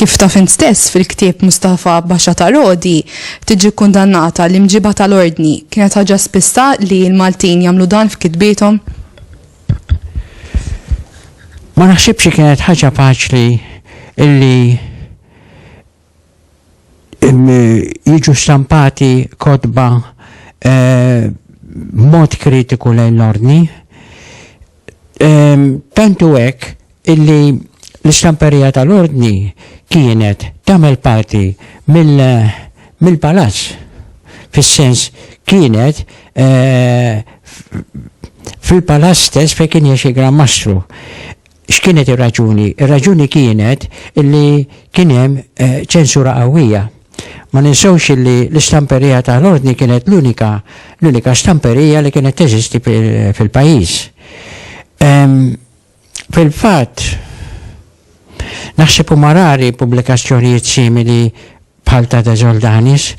Kif ta' fin stess fil-ktieb Mustafa Baxa ta' Rodi, tiġi kundannata l-imġiba tal-ordni, kienet ħaġa spista li l-Maltin jagħmlu dan f'kitbietom? Ma naħsibx kienet ħaġa faċli illi jiġu stampati kotba b'mod kritiku lejn l-Ordni, tant hu hekk illi l-istamperija tal-Ordni kienet tagħmel parti mill-Palazz, fis-sens kienet fil-Palazz stess fejn kien jgħix il-Gran Mastru. X'kienet ir-raġuni? Ir-raġuni kienet li kien hemm ċensura qawwija. Ma ninsewx li l-istamperija ta' l-Ordni kienet l-unika l-unika stamperija li kienet teżisti fil-pajjiż. Fil-fatt, naħseb huma rari pubblikazzjonijiet simili bħal ta' De Soldanis,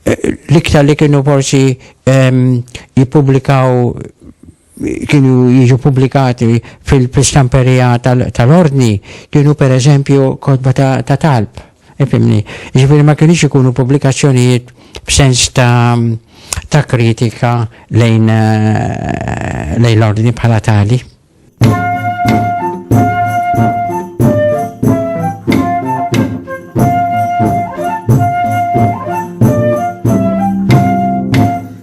l-iktar li kienu forsi jippubblikaw kienu jiġu pubblikati fil-stamperija tal-ordni kienu per eżempju kotba ta' talb. Ifimni, ġifiri ma kienx ikunu pubblikazzjonijiet b'sens ta' kritika lejn eh, l-ordni bħala tali.